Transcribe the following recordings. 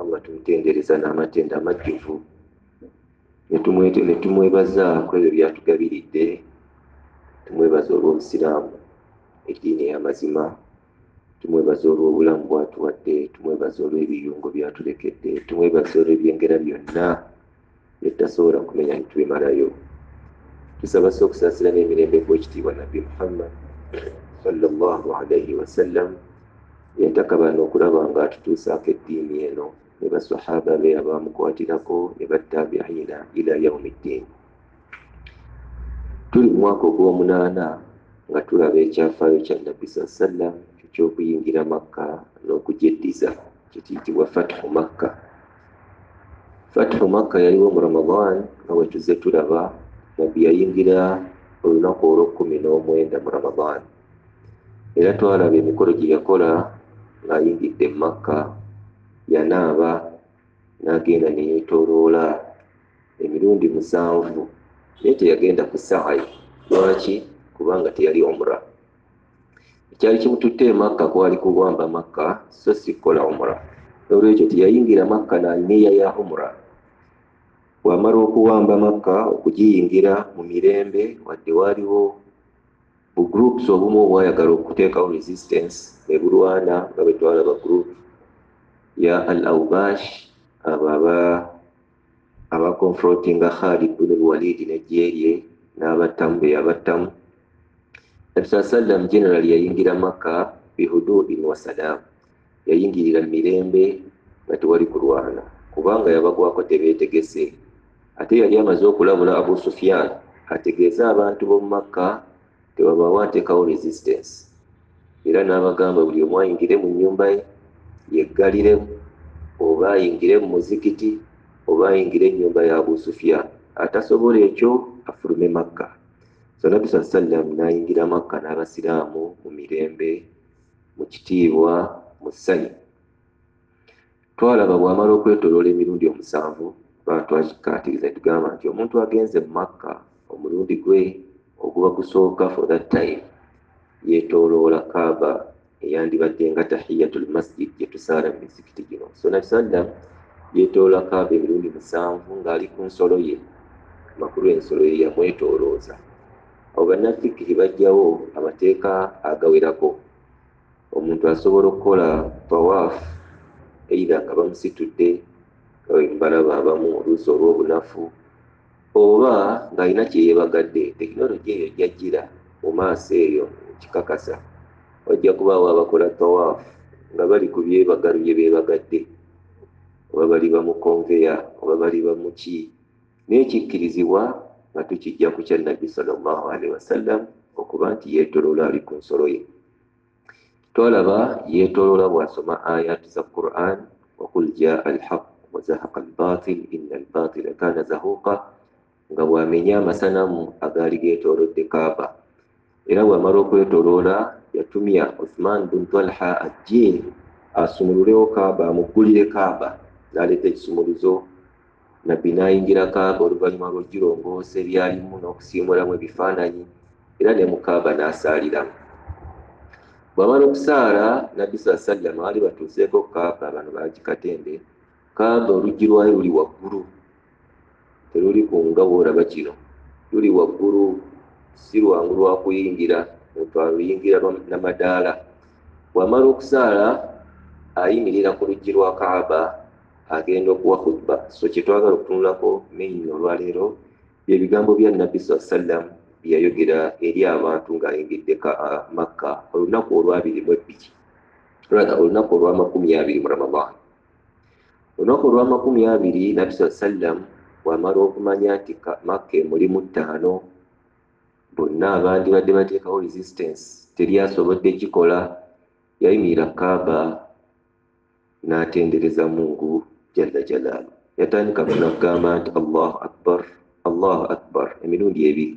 allah tumutendereza n'amatendo amajjuvu netumwebaza ku ebyo byatugabiridde tumwebaza olw'obusiraamu eddiini ey'amazima tumwebaza olw'obulamu bwatuwadde tumwebaza olw'ebiyungo byatulekedde tumwebaza olw'ebyengera byonna yetasobola kumenya nitwemalayo tusaba si okusaasira n'emirembe gw'ekitiibwa nabbi muhammad salllah alaihi wasallam yatakabana okulaba nga atutuusaako eddiini eno ne basahaba be abamukwatirako ne battabiina ila yaumi ddiini tuli mu mwaka ogw'omunaana nga tulaba ekyafaayo kya nabbi saa sallam eky'okuyingira makka n'okugyeddiza kyekiyitibwa fatihu makka fatihu makka yaliwo mu ramadan nga bwe tuzze tulaba nabbi yayingira olunaku olw'okkumi n'omwenda mu ramadan era twalaba emikolo gye yakola ng'ayingidde mu makka yanaaba n'agenda ne yeetooloola emirundi musanvu naye teyagenda ku sahayi lwaki kubanga teyali omura ekyali kimututte e makka kwali kuwamba makka so si kukola umura olwekyo teyayingira makka na niya ya umura bwamala okuwamba makka okugiyingira mu mirembe wadde waaliwo bu groups obumu obwayagala okuteekawo resistance nebulwana nga bwetwalaba group ya al aubash abo aba abakonfrontinga khalid bun lwalidi nejjeerye n'abattamu be yabattamu nabi saa sallam general yayingira makka bihuduin wasalaamu yayingirira mirembe nga tewali kulwana kubanga yabagwako tebeetegese ate yali amaze okulabula abu sufiyan ategeeze abantu b'omu makka Tewabaawo ateekawo resistance. Era n'abagamba buli omu ayingire mu nnyumba ye, yeggaliremu, oba ayingire mu muzikiti, oba ayingire ennyumba ya Abu Sufyaan. Atasobola ekyo, afulume Makka. So Nabbi swalla sallam n'ayingira Makka n'Abasiraamu mu mirembe, mu kitiibwa, mu ssanyu. Twalaba bw'amala okwetoloola emirundi omusanvu, twala twakikkaatiriza ne tugamba nti omuntu agenze mu Makka omulundi gwe oguba gusooka for that time yeetooloola Kaaba eyandibadde nga Tahiyyatul Masjid gye tusaala mu mizikiti gino. So Nabi sallam yeetooloola Kaaba emirundi musanvu ng'ali ku nsolo ye, makulu ensolo ye yamwetoolooza. Abo bannafikihi bajjawo amateeka agawerako. omuntu asobola okukola tawaf eidha nga bamusitudde mbalaba abamu oluusi olwobunafu oba ng'alina kyeyebagadde tekinologi eyo jajjira mu maaso eyo kikakasa wajja kubaawo abakola tawaf nga bali ku byebagalu bye bebagadde oba bali bamukonveya oba bali bamuki naye kikkirizibwa nga tukijja ku kya nabbi salllah alihi wasallam okuba nti yeetoloola ali ku nsolo ye twalaba yeetoloola bw'asoma ayat za quran wakul jaa alhaq wazahaqa albatil ina albatila kana zahuqa nga bw'amenya amasanamu agaali geetoolodde kaaba era bwamala okwetoloola yatumya uthman bun talha ajje asumululewo kaaba amuggulire kaaba naleeta ekisumuluzo nabbi nayingira kaaba oluvannyuma lw'okugirongoosa ebyalimu n'okusiimulamu ebifaananyi era ne mu kaaba n'asaaliramu bwamala okusaala nabbi saa sallama ali batuuseeko kaaba bano bagikatembe kaaba oluggi lwayo luli waggulu teruli ku nga bwolaba kino luli waggulu si lwangu lwakuyingira muntu aluyingira namadaala bwamala okusaala ayimirira ku luggi lwa kaaba agenda okuwa khutba so kyetwagala okutunulako mainni olwaleero byebigambo bya nabbi saa sallam byeyayogera eri abantu ng'ayingidde ka uh, makka olunaku olwabiri mu ebbiri ratha olunaku olwamakumi abiri mu ramadaani olunaku olw'amakumi abiri nabbi saa sallam bwamala okumanya nti makka emulimu ttaano bonna abandi badde bateekawo resistance teri asobodde kikola yayimirira kaaba n'atendereza mungu jalla jalaalu yatandika kunakugamba nti allahu akbar allahu akbar emirundi ebiri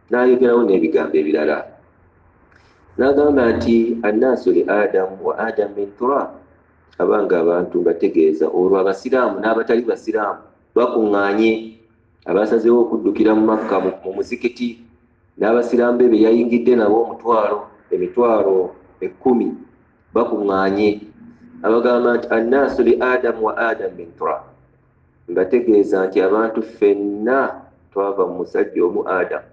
n'ayogerawo n'ebigambo ebirala n'agamba nti annaasu li adamu wa adamu min turab abanga abantu nga tegeeza olwo abasiraamu n'abatali basiraamu bakuŋŋaanye abasazeewo okuddukira mu makka mu muzikiti n'abasiraamu be be yayingidde nabo omutwalo emitwalo ekkumi bakuŋŋaanye abagamba nti annaasu li adamu wa adamu min turab mbategeeza nti abantu ffenna twava mu musajja omu adam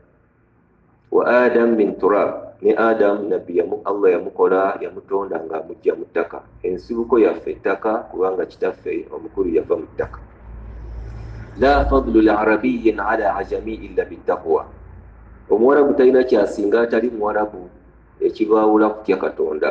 wa adam min turab ne adam nabbi yamu allah yamukola yamutonda nga amujja mu ttaka ensibuko yaffe ettaka kubanga kitaffe omukulu yava mu ttaka la fadlu larabiyin ala ajami illa bittaqwa omuwarabu talina kyasinga atali muwarabu ekibaawula kutya katonda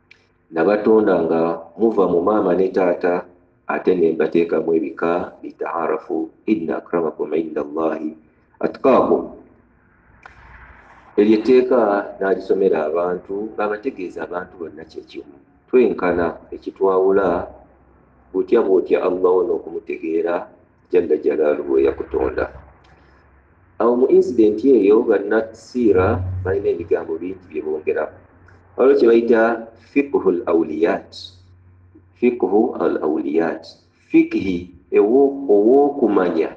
nabatonda nga muva mu maama ne taata ate nembateekamu ebika bitaarafu inna akramakum inda llahi atqakum eryo etteeka n'alisomera abantu ng'abategeeza abantu bonna kyekimu twenkana ekitwawula butya bwotya allah wona okumutegeera jalla jalaaluhu eyakutonda awo mu incident eyo bannasiira balina ebigambo bingi bye bongeramu waliwo kye bayita fiqhu l auliyat fiqhu al auliyat fiqhi ow'okumanya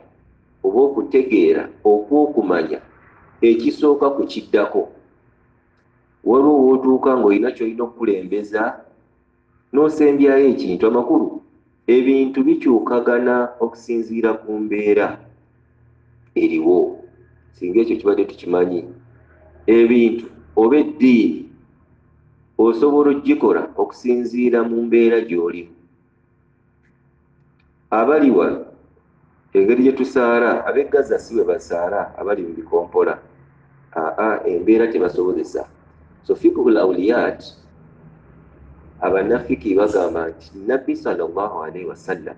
oba okutegeera okw'okumanya ekisooka ku kiddako waliwo wootuuka ng'olina kyolina okukulembeza n'osembyayo ekintu amakulu ebintu bikyukagana okusinziira ku mbeera eriwo singa ekyo kibadde tukimanyi ebintu oba eddiini osobola okugikola okusinziira mu mbeera gy'olimu abali wano engeri gye tusaala ab'e gaza si bwe basaala abali mu bikompola aa embeera tebasobozesa so fikuhu lauliyat abanafiki bagamba nti nabbi salllah alaihi wasallam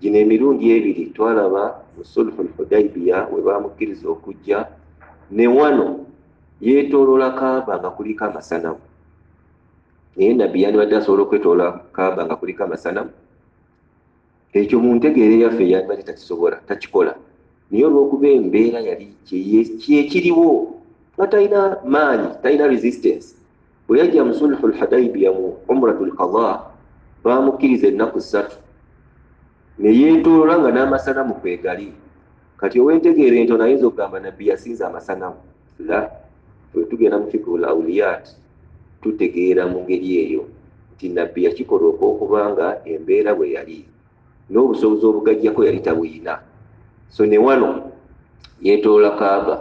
gino emirundi ebiri twalaba mu sulhu lhudaibiya we bamukkiriza okujja ne wano yeetoolola kaaba nga kuliko amasanamu naye nabbi yandibadde asobola okwetoola kaaba nga kuliko amasanamu ekyo mu ntegeere yaffe yandibadde takisobola takikola naye olwokuba embeera yali kyekiriwo nga talina maanyi talina resistance bwe yajja mu sulhu lhudaibiya mu umratu lkada baamukkiriza ennaku ssatu ne yeetoolola nga n'amasanamu kwegali kati owentegeera ento nayinza okugamba nabbi yasinza amasanamu la wetugenda mufikihul auliyat tutegeera mu ngeri eyo nti nabbi yakikola okwokuba nga embeera bwe yali n'obusobozi obugajjako yali tabuyina so ne wano yeetoolola kaaba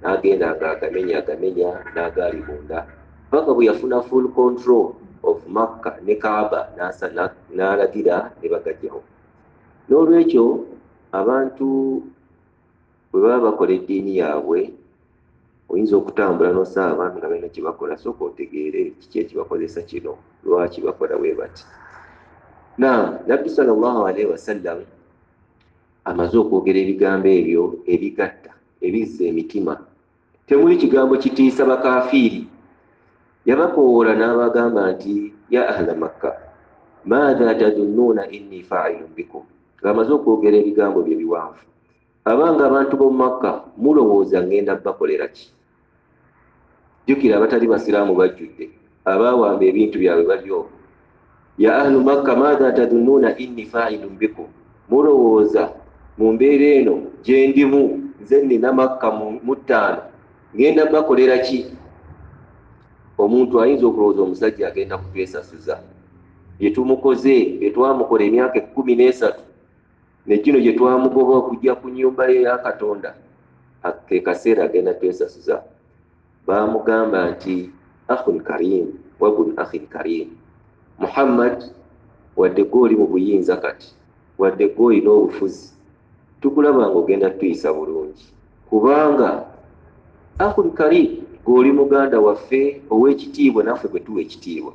n'agenda nga agamenya agamenya n'agaali munda paka bwe yafuna full control of makka ne kaaba n'alagira ne bagajjawo n'olwekyo abantu bwe baba bakola eddiini yaabwe oyinza okutambula n'osaba abantu nga balina kyebakola sooka otegeere kiki ekibakozesa kino lwaki bakola bwe bati na nabbi salllahu alaihi wasallam amaze okwogera ebigambo ebyo ebigatta ebizza emitima temuli kigambo kitiisa bakafiiri yabakoowoola n'abagamba nti ya ahla makka maatha tadhunnuuna inni faailu bikum ng'amaze okwogera ebigambo bye biwanvu abanga abantu b'omu makka mulowooza ng'enda bakolera ki jjukira abatali basiraamu bajjudde abaawamba ebintu byabwe bali omu ya ahlu makka maatha tadunnuuna inni failun bikum mulowooza mu mbeera eno gye ndimu nze nnina makka mu ttaano ngenda bakolera ki omuntu ayinza okulowooza omusajja agenda kutwesasuza byetumukoze byetwamukola emyaka ekkumi n'esatu nekino gye twamugoba okujja ku nyumba ye ya katonda kekaseera agenda twesasuza baamugamba nti akhun karim wabun akhin karim muhammad wadde gwe oli mu buyinza kati wadde gwe olina obufuzi tukulaba nga ogenda tuyisa bulungi kubanga akhun karim gwe oli muganda waffe ow'ekitiibwa naffe gwe tuwa ekitiibwa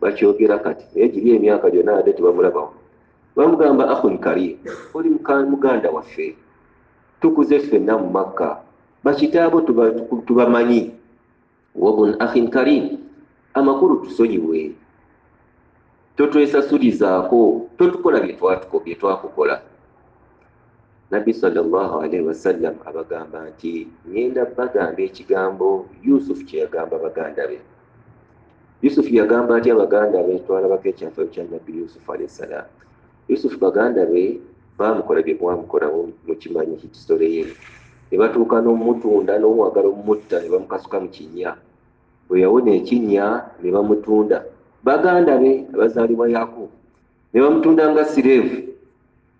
bakyogera kati naye giri emyaka gyonna ate tebamulabawo bamugamba akhun karim oli muganda waffe tukuze ffenna mu makka bakitaabo tubamanyi wabun ahin karim amakulu tusonyiwe totwesasulizaako totukola byetwakukola nabbi salllahu alaihi wasallam abagamba nti ngenda bagamba ekigambo yusufu kyeyagamba baganda be yusufu yagamba atya baganda be twalabako ekyafaayo kya nabbi yusufu alaihi salaam Yusufu baganda be baamukola bye mwamukola mukimanyi hisitole ye ne batuuka n'omutunda n'omwagala omumutta ne bamukasuka mu kinnya bwe yawona ekinnya ne bamutunda baganda be abazaalibwa yakubu ne bamutunda nga sireevu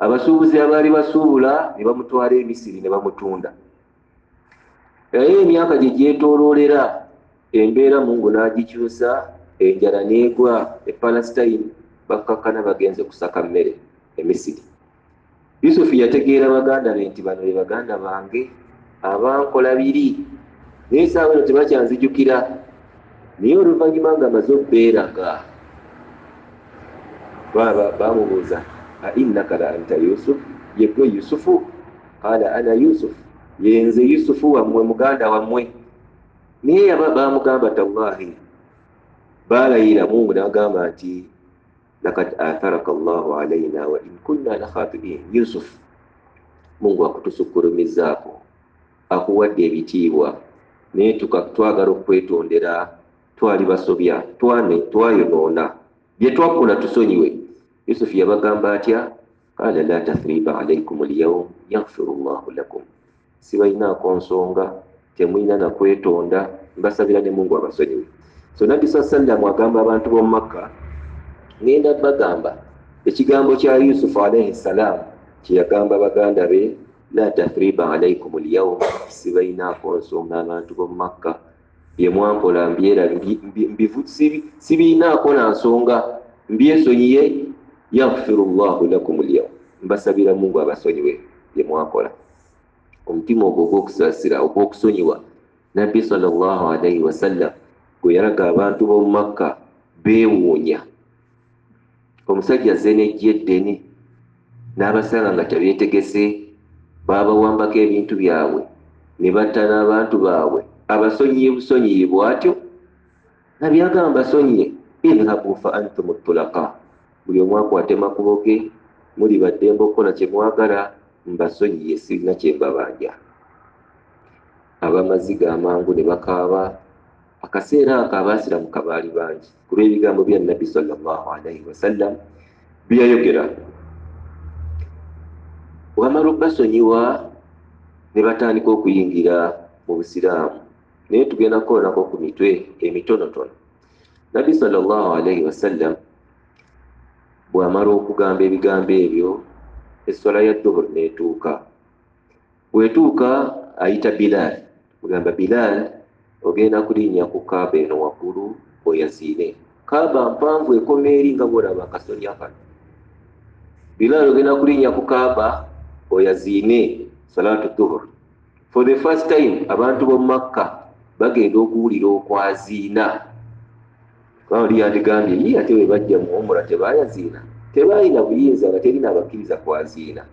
abasuubuzi abaali basuubula ne bamutwala emisiri ne bamutunda naye emyaka gye gyetooloolera embeera mungu n'agikyusa enjala n'egwa e palastine bakkakkana bagenze kusaka mmere emisiri yusufu yategeera baganda be nti bano be baganda bange abankola biri naye esaawa eno tebakyanzijukira naye oluvannyuma nga maze okubeeraga baba bamubuuza ainnaka la anta yusufu yegwe yusufu qala ana yusuf yenze yusufu wammwe muganda wammwe naye yaba bamugamba tallahi balayira mungu nagamba nti lakad atharaka llahu alaina wa in kunna lakhatiin yusuf mungu akutusukulumizaako akuwadde ebitiibwa naye twagala okwetondera twali basobya twane twayonoona byetwakola tusonyiwe yusufu yabagamba atya qala la tathriba alaikum alyaum yaghfiru llahu lakum sibalinaako nsonga temulina nakwetonda mbasabira ne mungu abasonyiwe so nabbi saa sallamu agamba abantu b'omu makka ngenda bagamba ekigambo kya yusufu alaihi ssalaamu kyeyagamba baganda be la tathriba alaikum alyaum sibalinaako nsonga abantu b'omu makka bye mwakola mbyera mbivu sibirinaako na nsonga mbyesonyiye yaghfiru llahu lakum lyaum mbasabira mungu abasonyiwe bye mwakola omutima ogwo ogw'okusaasira ogw'okusonyiwa nabbi salllahu alaihi wasallam gwe yalaga abantu b'omu makka beewuunya omusajja azze n'ejja eddene n'abasanga nga tabyetegese baabawambako ebintu byabwe ne batta n'abantu baabwe abasonyiye busonyiye bw'atyo nga byagamba basonyiye idhabu fa antum tulaka buli omu akwate makubo ge muli baddembe okukola kye mwagala mbasonyiye sirina kye mbabanja abamaziga amangu ne bakaaba akaseera ako abaasiramuka baali bangi ku lw'ebigambo bya nabbi salllah alaihi wasallam byeyayogera wamala okubasonyiwa ne batandika okuyingira mu busiraamu naye tugenda kukolako ku mitwe emitonotono nabbi salllah alaihi wasallam bwamala okugamba ebigambo ebyo esswala ya duhur neetuuka Bwetuuka ayita Bilaal, ogamba Bilaal ogenda kulinnya ku Kaaba eno waggulu oyaziine. Kaaba mpanvu ekoma eri nga bw'olaba akasolya kano. Bilaal ogenda kulinnya ku Kaaba oyaziine salaatu dhuhr. For the first time abantu b'omu Makka bagenda okuwulira okwaziina. Kubanga oli yandigambye, Ye ate bwe bajja mu Umura tebaayaziina? Tebaalina buyinza nga teri n'abakkiriza kwaziina.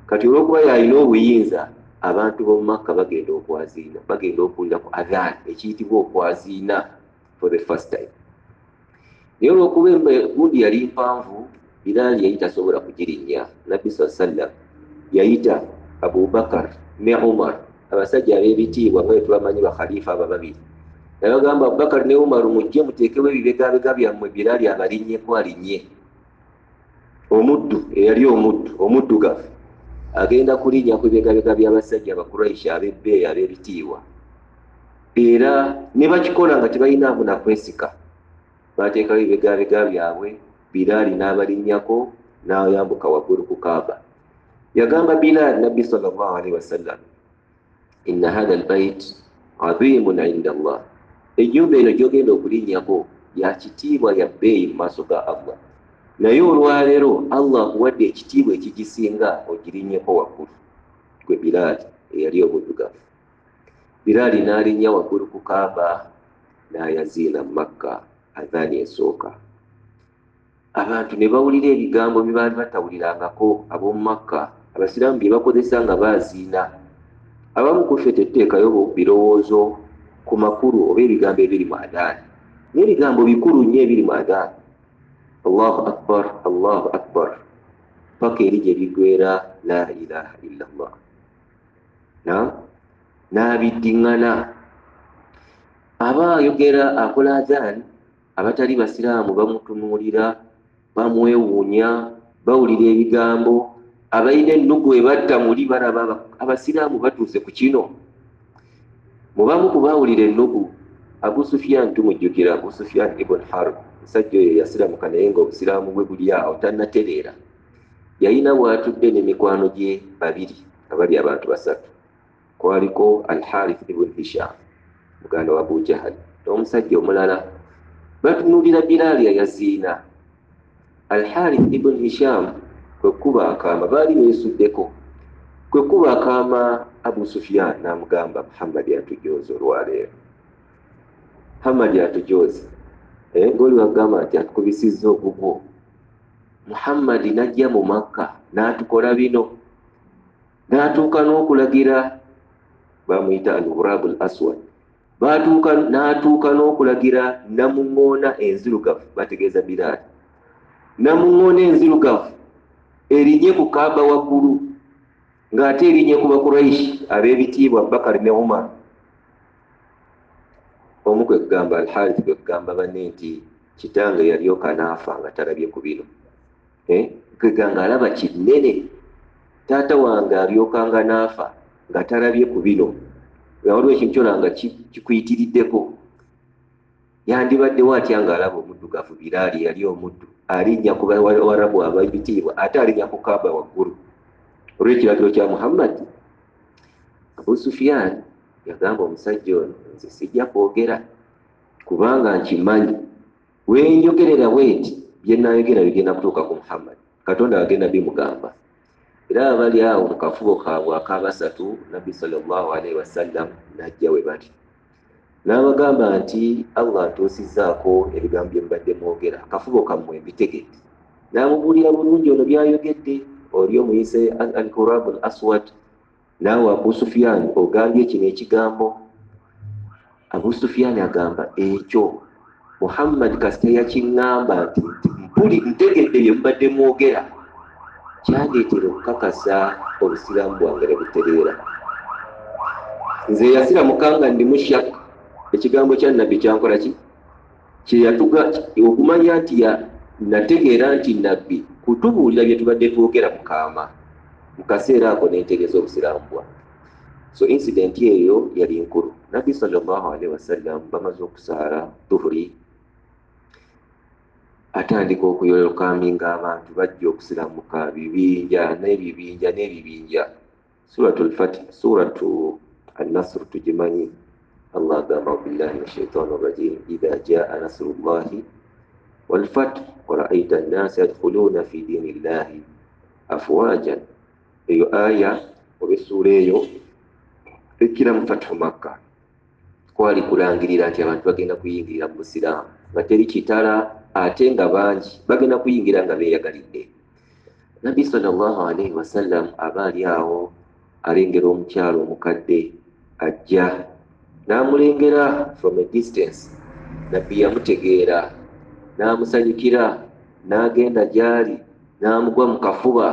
Kati olw'okuba y'alina obuyinza, abantu b'omu Makka bagenda okwaziina, bagenda okuwulira ku adhan ekiyitibwa okwaziina for the first time. Naye olw'okuba engundi yali mpanvu, bilaali yali tasobola kugirinnya nabbi saa sallam yayita abubakar ne umar abasajja ab'ebitiibwa nga bwetubamanyi bakhalifa abo babiri nabagamba abubakar ne umaru mujje muteekewo ebibegabega byammwe bilaali abalinnye kwalinnye omuddu eyali omuddu omuddugavu agenda kulinnya ku bibegabega by'abasajja abakuraishi ab'ebbeeyi ab'ebitiibwa era ne bakikola nga tebalinaamu nakwesika Baateekawo ebibegaabega byabwe, Bilaali n'abalinnyako n'ayambuka waggulu ku Kaaba. Yagamba Bilaali, Nabbi sallallahu alaihi wasallam, inna hadha albayit adhiimun inda Allah, ennyumba eno gy'ogenda okulinnyako ya kitiibwa ya bbeeyi mu maaso ga Allah, naye olwaleero Allah akuwadde ekitiibwa ekigisinga ogirinnyeko waggulu. Gwe Bilaali eyali omuddugavu. Bilaali n'alinnya waggulu ku Kaaba. n'ayaziina mu makka adhaani esooka abantu ne bawulira ebigambo bye baali batawulirangako ab'omu makka abasiraamu bye bakozesa nga baaziina abamu ku ffe tetuteekayo birowoozo ku makulu oba ebigambo ebiri mu adhaani naye ebigambo bikulu nnyo ebiri mu adhaani allahu akbar allahu akbar paka eri gye bigwera la ilaha illallah n'abiddiŋŋana aba ayogera akola adhan abatali basiraamu bamutunuulira bamwewuunya bawulira ebigambo abalina ennugu ebatta muli balaba abasiraamu batuuse ku kino mubamu ku bawulira ennugu abu sufiyan tumujjukira abu sufiyan ibun harb musajja oyo yasiramuka naye nga obusiraamu bwe buli awo tannatereera yalina waatudde ne mikwano gye babiri nga bali abantu basatu kwaliko alharith ibun hisham muganda wa bujahali n'omusajja omulala batunuulira biraali ayaziina alharith ibun hisham kwe kukuba akaama baali beesuddeko kwe kukuba akaama abu sufiyan n'amugamba muhammadi atujoozi olwaleero muhammadi atujoozi naye eh, ng'oli wagamba nti atukubisizza ogugwo muhammadi n'ajja mu makka n'atukola bino n'atuuka n'okulagira bamuyita alghurabu l aswad batuuka n'atuuka n'okulagira namuŋoona enzirugavu bategeeza biraali namuŋoona enzirugavu erinye ku kaaba waggulu ng'ate erinye ku bakuraishi ab'ebitiibwa abubakari ne umar omu kwe kugamba alharith kwe kugamba banne nti kitange yalyoka naafa nga talabye ku bino eh, kwega nga alaba kinene taata wange alyokanga naafa nga talabye ku bino waliwo ekintu kyona nga kikuyitiriddeko yandibaddewo atya nga alaba omuddugavu biraali yali omuddu alinnya ku bawarabu ababitiibwa ate alinnya ku kaaba waggulu olwekiragiro kya muhammadi abu sufiyan yagamba omusajja ono nze sijja kwogera kubanga nkimanyi wenjogerera bwenti byenayogera bigenda kutuuka ku muhammadi katonda agenda bimugamba era abali awo mu kafubo kaabwe akabasatu nabbi salllahu alaihi wasallam najja we bali n'abagamba nti allah ntuusizaako ebigambo bye mubadde mwogera akafubo kammwe mbitegedde n'amubuulira bulungi ono byayogedde oli omuyise alkurabu l aswad Naawe Abu Sufyaani ogambye kino ekigambo? Abu Sufyaani agamba ekyo Muhammad kasita yakiŋŋamba nti mpuli ntegedde bye mubadde mwogera kyandeetera okukakasa obusiraamu bwange ne butereera. Nze yasiramuka nga ndi mushak ekigambo kya Nabbi kyankola ki? kyeyatuga okumanya nti ya nategeera nti nabbi kutubuulira bye tubadde twogera mu kaama mu kaseera ako n'entegeeza obusiraamu bwa so incidenti eyo yali nkulu nabbi salllahu alehi wasallam bamaze okusaala duhuri atandika okuyolokaaminga abantu bajja okusiramuka bibinja n'ebibinja n'ebibinja suratul fati suratu annasr tugimanyi allah agamba billahi min shaitani rajim idha jaa nasrullahi walfati waraaita annasi yadkhuluna fi dini llahi afwajan eyo aya oba essuula eyo ekkira mu fathu makka kwali kulangirira nti abantu bagenda kuyingirira mu busiraamu nga teri kitala ate nga bangi bagenda kuyingira nga beeyagalidde nabbi salllah alaihi wasallam aba ali awo alengera omukyalo omukadde ajja n'amulengera from a distance nabbi yamutegeera n'amusanyukira n'agenda gy'ali n'amugwa mu kafuba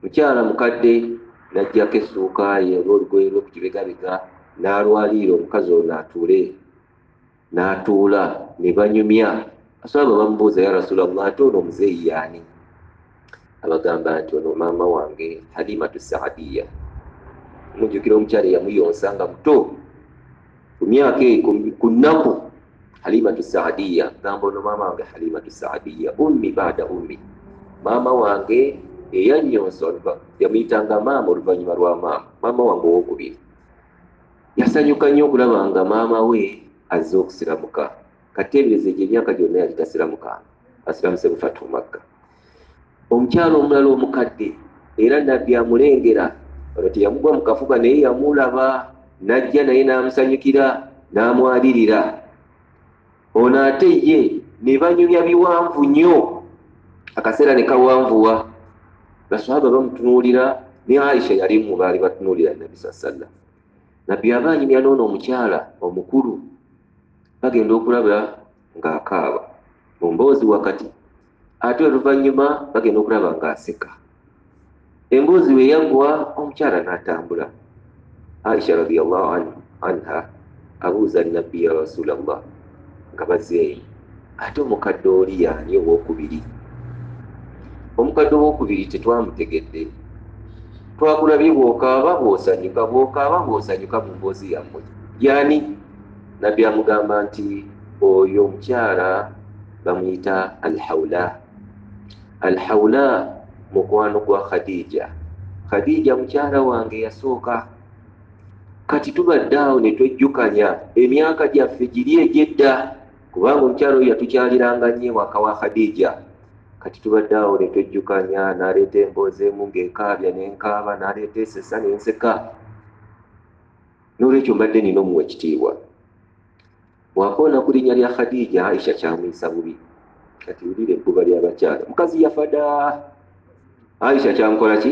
mukyala mukadde n'ajjako essuuka ye olw'olugoye lw'okukibegabega n'alwaliira omukazi ono atuule n'atuula ne banyumya aswaba bamubuuza ya rasulallah ate ono omuzeeyi yaani abagamba nti ono maama wange halimatu saadiya mujjukira omukyala eyamuyonsa nga muto ku myaka eko ku nnaku halimatu saadiya gamba ono maama wange halimatu saadiya ummi baada ummi maama wange eyanyonsa yamuyitanga maama oluvannyuma lwa maama maama wange owokubiri Yasanyuka nnyo okulaba nga maama we azze okusiramuka. Kateebereza egyo emyaka gyonna yali tasiramukanga, asiramuse bufatu makka. Omukyala omulala omukadde era nabbi amulengera, ono teyamugwa mu kafuba naye yamulaba n'ajja naye n'amusanyukira n'amwalirira. Ono ate ye ne banyumya biwanvu nnyo, akaseera ne kawanvuwa. Baswahaba bamutunuulira ne Aisha yali mu baali batunuulira Nabbi saa sallam. nabbi aba anyumya noono omukyala omukulu bagenda okulaba ng'akaaba mu mboozi wakati ate oluvannyuma bagenda okulaba ng'aseka emboozi we yaggwa omukyala n'atambula aisha radiallahu anha abuuza nabbi ya rasulallah nga bazeeyi ate omukadde oli yaani owokubiri omukadde owokubiri tetwamutegedde twakulabye bwokaaba bwosanyuka bwokaaba bwosanyuka mu mboozi yammwe yaani nabbi amugamba nti oyo omukyala bamuyita alhaula alhaula mukwano gwa khadija khadija mukyala wange yasooka kati tubadde awo ne twejjukanya emyaka gyaffe giri egyedda kubanga omukyalo oyo yatukyaliranga nnyo ewaka wa khadija kati tubadde awo ne twejjukanya n'aleeta emboozi emu ng'ekaabya n'enkaaba n'aleeta esesa n'enseka n'olwekyo mbadde nina omuwa ekitiibwa bwakoona ku linnya lya khadija aisha kyamuyisa bubi kati wulira ebbuba ly'abakyala mukazi yafada aisha kyankola ki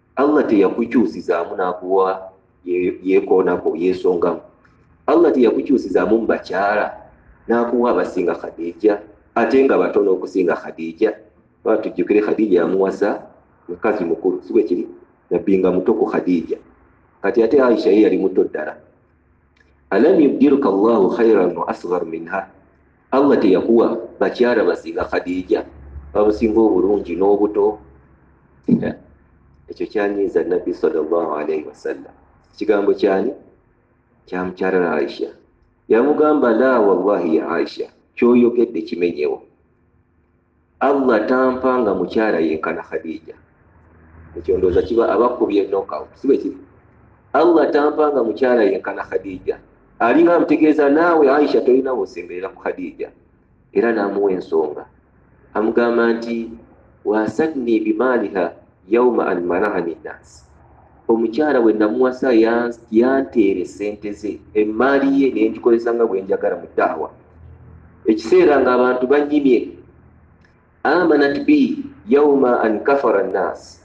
allah teyakukyusizaamu n'akuwa yekoonako yeesongamu allah teyakukyusizaamu mu bakyala n'akuwa abasinga khadija ate nga batono okusinga khadija oba tujjukire khadija yamuwasa mukazi mukulu si bwe kiri nabbi nga muto ku khadija kati ate aisha ye yali muto ddala alam yubdiruka llahu khairan wa asghar minha allah teyakuwa bakyala basinga khadija babusinga obulungi n'obuto ekyo kyanyiiza nabbi salllahalaihi wasallam ekigambo kyani kyamukyala aisha yamugamba la wallahi ya aisha kyoyogedde kimenyewo allah tampa nga mukyala yenkana khadija ekyondooza kiba abakubye nokout si bwe kiri allah tampa nga mukyala yenkana khadija alinga amutegeeza naawe aisha tolinawo osemberera ku khadija era n'amuwa ensonga amugamba nti wasadni bimaaliha yauma an manahani nnaasi omukyala bwe namuwasa yanteere ssente ze emmaali ye nengikozesa nga bwe njagala mu daawa ekiseera nga abantu banyimye amanat bi yauma an kafara nnas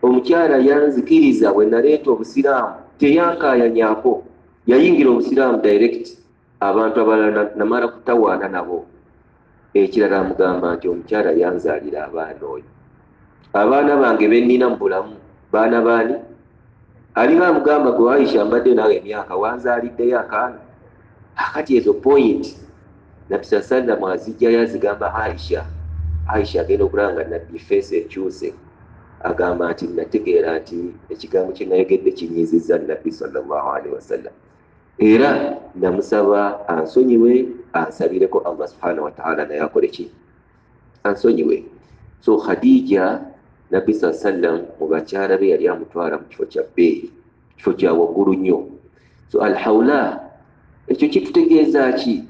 omukyala yanzikiriza bwe naleeta obusiraamu teyankaayanyako yayingira obusiraamu direct abantu abalala namala kutawaana nabo ekirala amugamba nti omukyala yanzaalira abaana oyo abaana bange benina mubulamu baana baani alinga amugamba gwe aisha mbadde nawe emyaka wanzaaliddeyo akaana akati ezo point nabisa sallamu azijjayo azigamba aisha aisha agenda okulaba nga nabbi feesi ekyuse agamba nti nategeera nti ekigambo kyenayogedde kinyiiziza nabbi salllahu alehi wasallam era namusaba ansonyiwe ansabireko allah subhanahu wataala naye akoleki ansonyiwe so khadija nabbi saa sallam mu bakyala be yali amutwala mu kifo kya bbeeyi kifo kya waggulu nnyo so alhaula ekyo kitutegeeza ki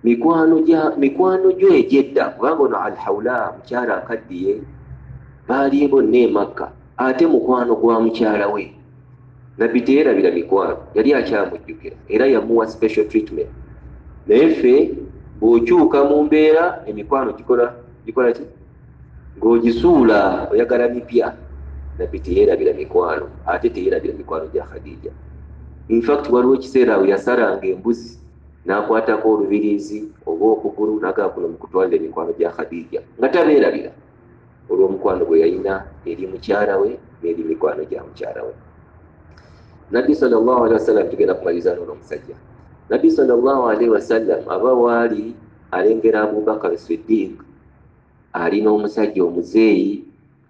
mikwano gyo egyedda kubanga ono alhaula mukyala akaddiye baali bonna emakka ate mukwano gwa mukyala we nabbi teyerabira mikwano yali akyamujjukira era yamuwa special treatment naye ffe bw'okyuka mu mbeera emikwano gikola gikola ki ng'ogisuula oyagala mipya nabbi teyerabira mikwano ate teyerabira mikwano gya khadija infact waliwo ekiseera awo yasaranga embuzi n'akwatako olubiriizi oba okugulu nagakuno mu kutwalira emikwano gya khadija nga tabeerabira olw'omukwano gwe yalina eri mukyala we n'eri mikwano gya mukyala we nabbi salllah alihi wasallam tugenda kumaliriza noono omusajja nabbi salllah alihi wasallam aba waali alengera abubakar sidiik ali n'omusajja omuzeeyi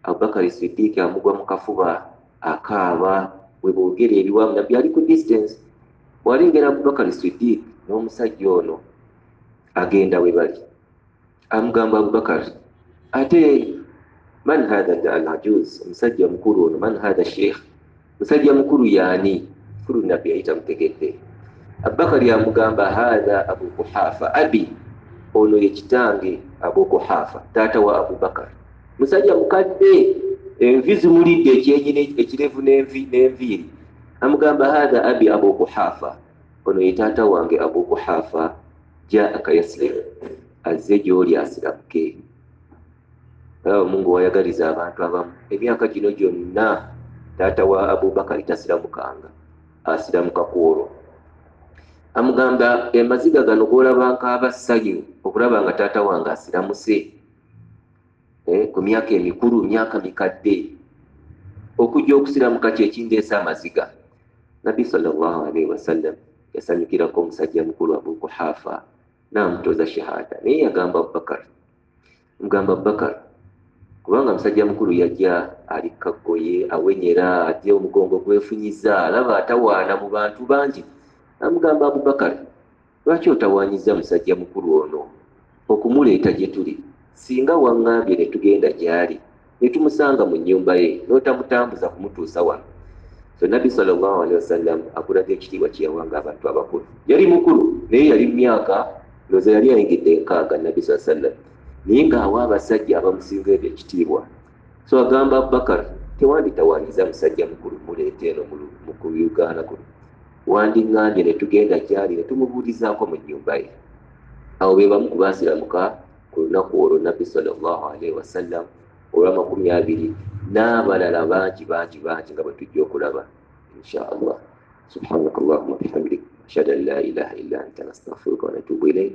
abubakar sidiik amugwa mu kafuba akaaba bwe boogera ebiwamu nabbi ali ku distance bwalengera abubakar sidiik n'omusajja ono agenda we bali amugamba abubakar ate man hatha alajuz omusajja mukulu ono man hatha sheikh musajja mukulu yaani mukulu nabbi yayita mutegedde abubakar yamugamba hatha abu kuhafa abi ono ye kitange abu kuhafa taata wa abubakar musajja mukadde envi zimulidde ekyenyini ekirevu nenviiri amugamba hatha abi abu kuhafa ono ye taata wange abu kuhafa ja akayaslim azze gyoli asiramuke aa omungu wayagaliza abantu abamu emyaka gino gyonna taata wa abubakari tasiramukanga asiramuka kwolwo amugamba emaziga gano golaba nkaaba ssanyu okulaba nga taata wange asiramuse eh, ku myaka emikulu myaka mikadde okujja okusiramuka kyekindeesa amaziga nabbi salllahalaihi wasallam yasanyukirako omusajja mukulu abu kuhafa namutoza shahada naye yagamba abubakar mugamba abubakar kubanga musajja mukulu yajja ali kagoye awenyera atya omugongo gwefunyiza alaba atawaana mu bantu bangi amugamba abubakar Lwaki otawaanyizza musajja mukulu ono okumuleeta gye tuli? Ssinga waŋŋambye ne tugenda gy'ali ne tumusanga mu nnyumba ye n'otamutambuza kumutuusa wano. So Nabbi sallallahu alaihi wasallam akulaga ekitiibwa kye yawanga abantu abakulu. Yali mukulu naye yali mu myaka ndowooza yali ayingidde enkaaga Nabbi sallallahu alaihi wasallam naye ng'awa abasajja abamusinga ebyo ekitiibwa. so agamba abubakar tewanditawanyizza musajja mukulu muleeta eno mukuyugaana kuno wandingambye ne tugenda gyali ne tumubuulizaako mu nnyumba ye awo be bamu ku baasiramuka ku lunaku olwo nabbi salllah alaihi wasallam olw'amakumi abiri n'abalala bangi bangi bangi nga bwe tujja okulaba insha allah subhanaka allahuma bihamdik ashhadu an la ilaha illa anta nastaghfiruka wa natubu ilaik